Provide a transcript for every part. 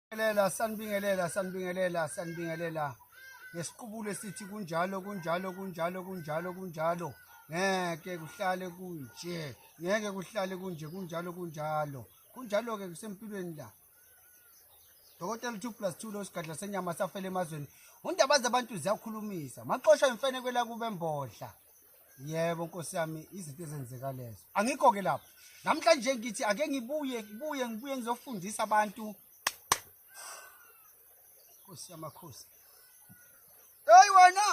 Sanibingelela, sanibingelela, sanibingelela, sanibingelela. Ngesiqubulo esithi kunjalo, kunjalo, kunjalo, kunjalo, kunjalo. Ngeke kuhlale kunje. Ngeke kuhlale kunje, kunjalo, kunjalo. Kunjalo ke kusempilweni la. Dokotela 2 plus 2 lo sigadla senyama safela emazweni. Undaba zabantu ziyakhulumisa. Maxosha imfene kwela kube mbodla. yebo nkosi yami izinto ezenzeka lezo angikho ke lapho namhlanje ngithi ake ngibuye ngibuye ngibuye ngizofundisa abantu nkosi yamakhosi hey wena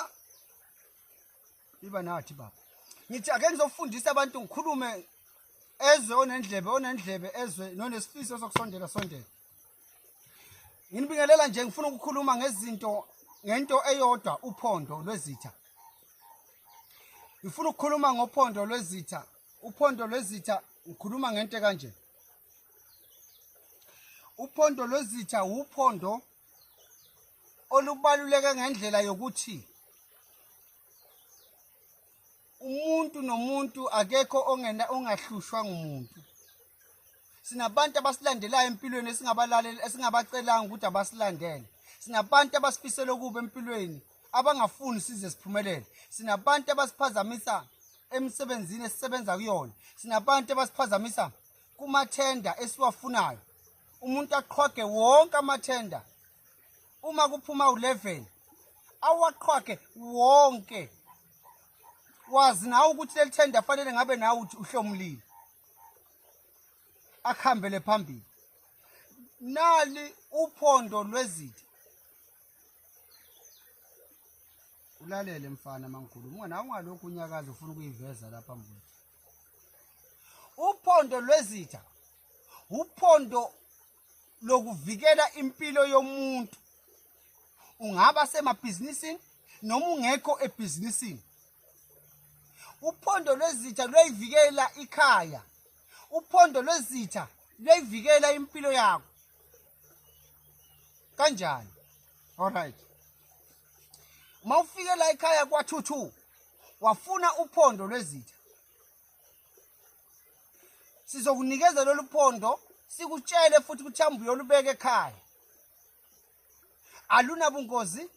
iba nathi baba ngithi ake ngizofundisa abantu ngikhulume ezwe onendlebe onendlebe ezwe nonesifiso sokusondela sondela Nginibingelela nje ngifuna ukukhuluma ngezinto ngento eyodwa uphondo lwezitha. Ngifuna ukukhuluma ngophondo lwezitha. Uphondo lwezitha ngikhuluma ngento kanje. Uphondo lwezitha uphondo olubaluleke ngendlela yokuthi umuntu nomuntu akekho ongena ongahlushwa ngumuntu sinabantu abasilandelayo empilweni esingabalaleli esingabacelanga ukuthi abasilandele sinabantu abasifisela okubi empilweni abangafuni size siphumelele sinabantu abasiphazamisa emsebenzini esisebenza kuyona sinabantu abasiphazamisa kumathenda esiwafunayo umuntu aqhoge wonke amathenda uma kuphuma u-11 awaqhwage wonke wazi nawe ukuthi leli thenda fanele ngabe nawe uthi uhlomulile akuhambele phambili nali uphondo lwezitha ulalele mfana mankulu mngana ungalokhu unyakazi ufuna ukuyiveza lapha mbuti uphondo lwezitha uphondo lokuvikela impilo yomuntu ungaba semabhizinisini noma ungekho ebhizinisini uphondo lwezitha luyayivikela ikhaya uphondo lwezitha luyayivikela impilo yakho kanjani alright uma ufike la ekhaya kwathuthu wafuna uphondo lwezitha sizokunikeza lolu phondo sikutshele futhi ukuthi hambe uyolubeka ekhaya alunabungozi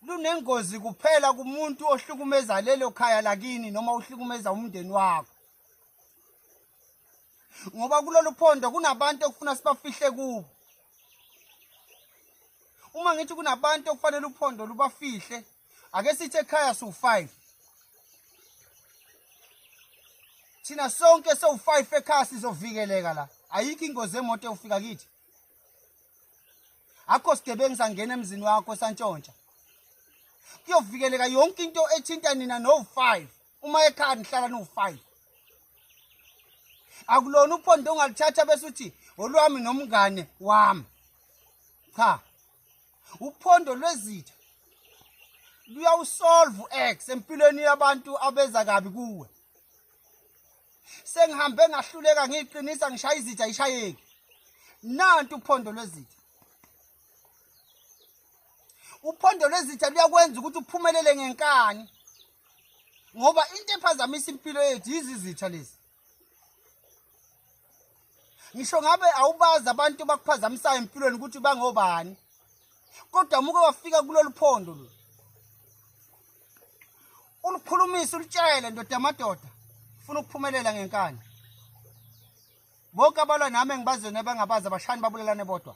lunengozi kuphela kumuntu ohlukumeza lelo khaya lakini noma uhlukumeza umndeni wakho ngoba kulolu phondo kunabantu okufuna sibafihle kubo uma ngithi kunabantu okufanele uphondo lubafihle ake sithi ekhaya siwu-five thina sonke sowu-five ekhaya sizovikeleka la ayikho ingozi emoto ewufika kithi akho sigebengu sangena emzini wakho santshontsha kuyovikeleka yonke into ethinta nina nowu-five uma ekhaya nihlala niwu-five akulona uphondo ongalithatha bese uthi olwami nomngane wami cha uphondo lwezitha luyawusolve u-x empilweni yabantu abeza kabi kuwe sengihambe ngahluleka ngiyiqinisa ngishaya izitha ayishayeki nanti uphondo lwezitha uphondo lwezitha luyakwenza ukuthi uphumelele ngenkani ngoba into ephazamisa impilo yethu yizizitha lezi ngisho ngabe awubazi abantu bakuphazamisayo empilweni ukuthi bangobani kodwa muke wafika kulolu phondo lo ulikhulumisa ulitshele ndoda yamadoda funa ukuphumelela ngenkani bonke abalwa nami engibazweni abangabazi abashayani babulelane bodwa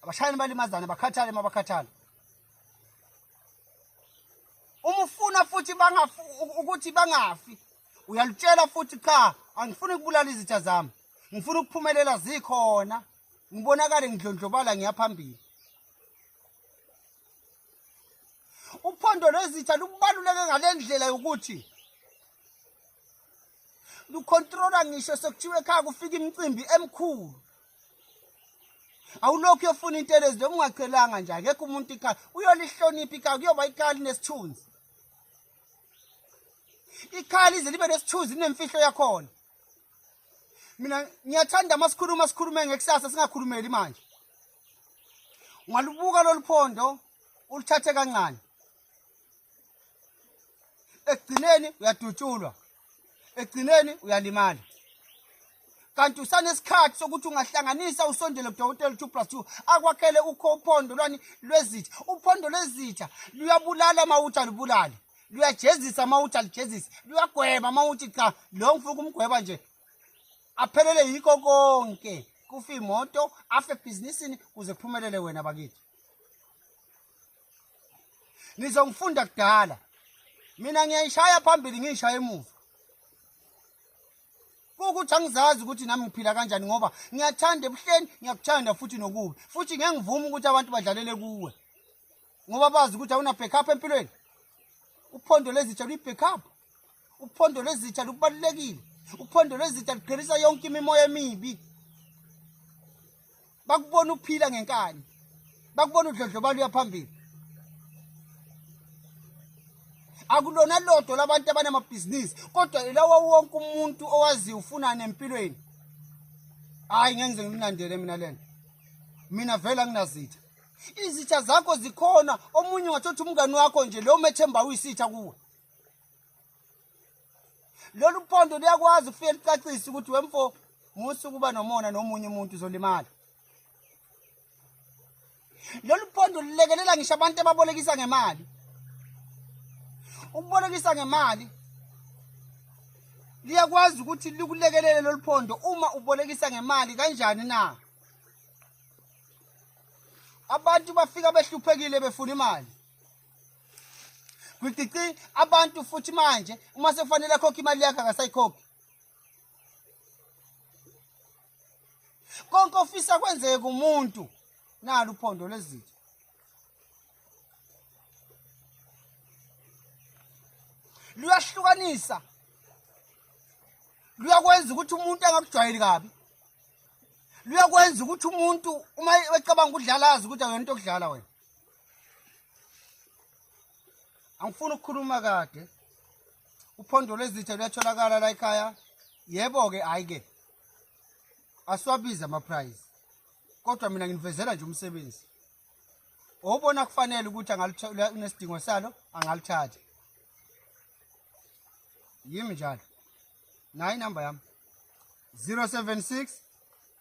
abashayani balimazane bakhathale uma bakhathale uma ufuna futhi ukuthi bangafi uyalutshela futhi cha angifuni ukubulala izitha zami ngifuna ukuphumelela zikhona ngibonakale ngidlondlobala ngiyaphambili uphondo lwezitha lukubaluleke ngale ndlela yokuthi lukhontrola ngisho sekuthiwa ekhaya kufika imicimbi emkhulu awulokhu uyofuna into elezi lokungacelanga nje akekho umuntu ikhaya uyolihlonipha ikhaya kuyoba ikhaya linesithunzi ikhaya lize libe nesithuzi linemfihlo yakhona mina ngiyathanda uma sikhuluma sikhulume ngekusasa singakhulumeli manje ungalubuka lolu phondo uluthathe kancane ekugcineni uyadutshulwa ekugcineni uyalimala kanti usanesikhathi sokuthi ungahlanganisa usondele kudokotela two plus two akwakhele ukho uphondo lwani lwezitha uphondo lwezitha luyabulala uma uthi alubulale luyajezisa uma uthi alijezise luyagweba uma uthi cha lo ngifuna ukumgweba nje aphelele yikho konke kufe imoto afe ebhizinisini kuze kuphumelele wena bakithi nizongifunda kudala mina ngiyayishaya phambili ngiyishaya emuva ukuthi angizazi ukuthi nami ngiphila kanjani ngoba ngiyathanda ebuhleni ngiyakuthanda futhi nokubi futhi ngeke ngivumi ukuthi abantu badlalele kuwe ngoba bazi ukuthi awuna backup empilweni uphondo lezitsha luyi-backup uphondo lezitsha lukubalulekile uphondo lezitsha lugqirisa yonke imimoya emibi bakubona ukuphila ngenkani bakubona udlodlobalo uyaphambili akulona lodwa labantu abanamabhizinisi kodwa ilawa wonke umuntu owaziyo ufunani empilweni hhayi ngeke ngize ngimlandele mina le nto mina vele anginazitha izitha zakho zikhona omunye ungathothi umngani wakho nje leyo methemba uyisitha kuwe lolu phondo luyakwazi ukufike licacise ukuthi wemfo musa ukuba nomona nomunye umuntu uzolimala lolu phondo lulekelela ngisho abantu ababolekisa ngemali ukubolekisa ngemali liyakwazi ukuthi likulekelele lolu phondo uma ubolekisa ngemali kanjani na abantu bafika behluphekile befuna imali Gwigcici abantu futhi manje uma sekufanele akhokhe imali yakhe akasayikhokhi. Konke ofisa kwenzeke kumuntu nalo uphondo lezitho. Luyahlukanisa. Luyakwenza ukuthi umuntu angakujwayeli kabi. Luyakwenza ukuthi umuntu uma ecabanga ukudlala azi ukuthi akuyona into okudlala wena. angifuni ukukhuluma kade uphondo lwezitha luyatholakala la ekhaya yebo-ke hhayi-ke asiwabizi amaprize kodwa mina nginivezela nje umsebenzi owubona kufanele ukuthi unesidingo salo angalithatha yimi njalo nayo inamba yami 076